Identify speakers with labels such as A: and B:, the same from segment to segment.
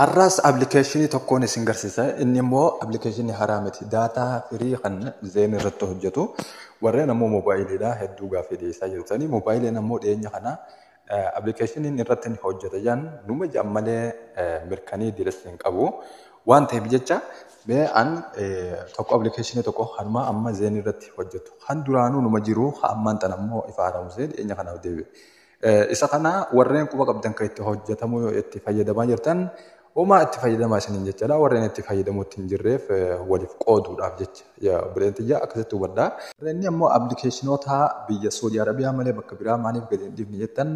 A: Arraas appilikeeshinii tokkoon isin garsiisa. Inni immoo appilikeeshinii haraa miti. Daataa firii kan zeen irratti hojjetu. Warreen ammoo moobaayiliidha. Hedduu gaaffii dhiyeessaa jirtanii. Moobaayiliin ammoo dhiyeenya kana appilikeeshiniin irratti ni hojjeta jedhan numa jedhan malee mirkanii dirasii hin qabu. Waan ta'eef jecha mee an tokko appilikeeshinii tokko hanuma amma zeen irratti hojjetu. Kan duraanuu numa jiru kan ammaan tan ammoo ifa haaromsee dhiyeenya kanaaf deebi'e. Isa kana warreen quba qabdan kan itti hojjetamuu itti fayyadamaa jirtan homaa itti fayyadamaa isiniin jechaadha. Warreen itti fayyadamuutti hin jirreef waliif qooduudhaaf jecha. Yaa obboleen tiyya akkasitti hubadha. Warreen ammoo appilikeeshinoota biyya Saudi Arabiyaa malee bakka biraa maaliif gadi hin dhiifne jettan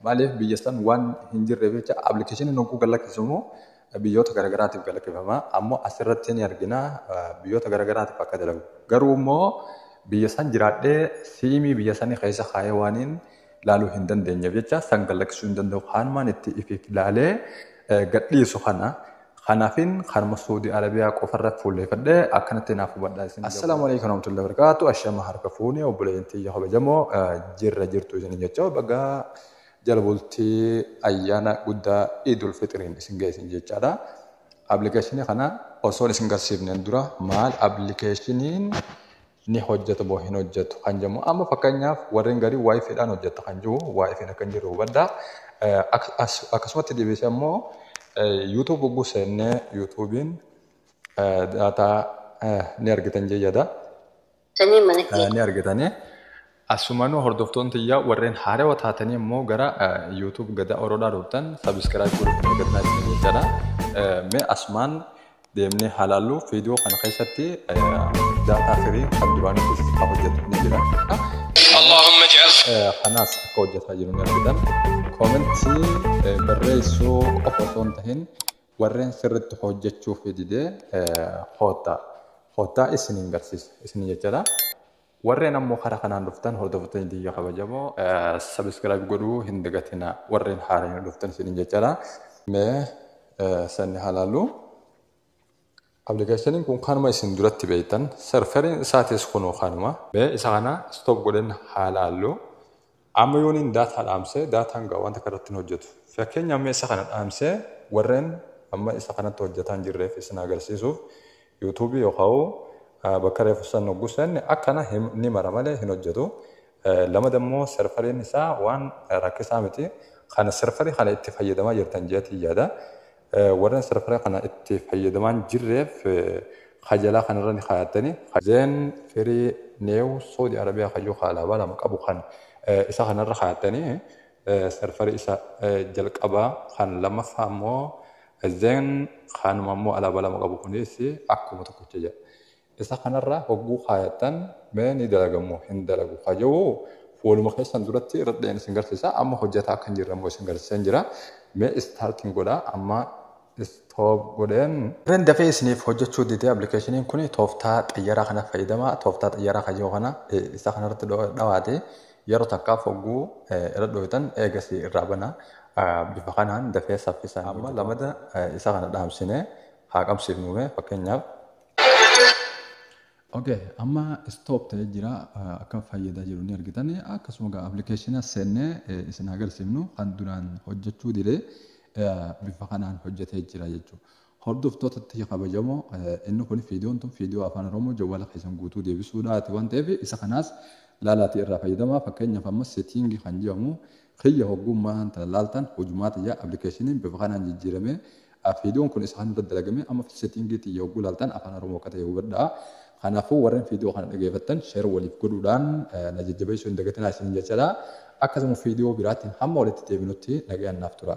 A: maaliif biyya san waan hin jirreef jecha appilikeeshiniin hogguu gad lakkisu immoo biyyoota garagaraatiif galakifama ammoo asirratti ni argina biyyoota garagaraatiif akka dalagu garuu immoo biyya san jiraadhee siimii biyya sanii keessa kaayee waaniin laaluu hin dandeenyeef jecha san galakkisuu hin danda'u kaanumaan itti ifi laalee gadhiisu kana kanaafin kanuma suudi arabiyaa qofarra fuulleeffadhee akkanatti naaf hubadhaa isin assalaamu alaikum warahmatullahi wabarakatuh ashama harka fuune obboleeyyan tiyya kabajamoo jirra jirtu isin jecha bagaa jala bultii ayyaana guddaa Iidul Fixiriin isin ga'e isin jechaadha. Appilikeeshinii kana osoon isin garsiifneen dura maal appilikeeshiniin ni hojjeta moo hin hojjetu kan jedhamu amma fakkeenyaaf warreen garii waayifiidhaan hojjetta kan jiru waayifiin akka hin jirre hubadha. Eh, ak- as- Akkasumatti deebisee immoo yuutuub hogguu seennee yuutuubiin daataa ni argitan jee yada. Sanyii mana eh, kiyya ni argitanii asumanuu hordoftoon tiyyaa warreen haarawa taatanii immoo gara eh, youtube gadaa oroodhaa dhuftan sabiskiraayib godhuu hin dagatinaa isin jechaadha Eh, mee asumaan deemnee halaallu viidiyoo kana keessatti eh, daataa firii kan duraanii keessatti kan hojjetu ni jira اللهم اجعل Eh, kanaas akka hojjetaa jiru ni argitan koomentii eh, barreessuu qofa osoo hin tahin Warreen sirritti hojjachuufi didee koottaa koottaa isinin garsiisa isinin jechadha. Warreen ammoo karaa kanaan dhuftan hordoftoonni tiyya kabajamoo subscribe godhuu hin dagatina warreen haaranii dhuftan isinin jechadha. Mee sanni halaaluu. Application kun kanuma isin duratti beektan serverin isaatis kunoo kanuma. Mee isa kana stop godhen haa laallu. Amma yooniin daataa dhaamse daataan gaa wanta kanarratti hin hojjetu. Fakkeenyaaf mee isa kana dhaamsee warreen amma isa kanatti hojjetaa hin jirreef isin agarsiisuuf YouTube yookaan bakka reefu san hogguu seenne akkana ni mara malee hin hojjetu. Lama dammoo serveriin isaa waan rakkisaa miti. Kana serverii kana itti fayyadamaa jirtan jeetiin yaada. Warren servera kana itti fayyadamaan jirreef kajalaa kanarra ni kaayattani. Zen free new Saudi Arabia kayyoo ka alaabaa lama qabu kan isa kanarra kaayattani serveri isa jalqaba kan lammaffaa ammoo Zen kanuma ammoo alaabaa lama qabu kunis akkuma tokkocha jedha. Isa kanarraa hogguu kaayattan mee ni dalaga moo hin dalagu ka jedhu fuuluma keessan duratti irra dhiyeen isin garsiisa. Amma hojjataa akka hin jirre immoo isin garsiiseen jira. Mee start hin godha amma stop godheen. Warreen dafee isiniif hojjachuu didee appilikeeshiniin kun tooftaa xayyaraa kana fayyadama. Tooftaa xayyaraa ka jedhu kana isa kanarratti dhawaate yeroo takkaaf hogguu irra dhooytan eegasii irraa bana. Bifa kanaan dafee saffisaan. Amma lamada isa kana dhaamsinee haa qabsiifnu mee fakkeenyaaf Okay, amma stop ta'ee jira ah, akka fayyadaa jiru ni argitan akkasuma egaa appilikeeshina seennee eh, isin agarsiifnu kan duraan hojjechuu dide eh, bifa kanaan hojjetee jira jechuudha. Hordoftootatti kabajamoo eh, inni kun fiidiyoon tun fiidiyoo afaan oromoo jawwala keessan guutuu deebisuudhaati waan ta'eef isa kanaas laalaati irraa fayyadamaa fakkeenyaaf amma seetiingii kan jedhamu Kiyya hogguu maahan tana laaltan hujumaa tiyya application bifa kanaan jijjiiramee fiidiyoon kun isa kan irratti dalagame amma fi setting tiyya hogguu laaltan afaan oromoo akka ta'e hubadha kanaafuu warren fiidiyoo kana dhageefattan share waliif godhuudhaan na jajjabeessuu hin dagatinaa isiniin jechadha akkasuma fiidiyoo biraatiin hamma walitti deebinutti nagayaan naaf tura.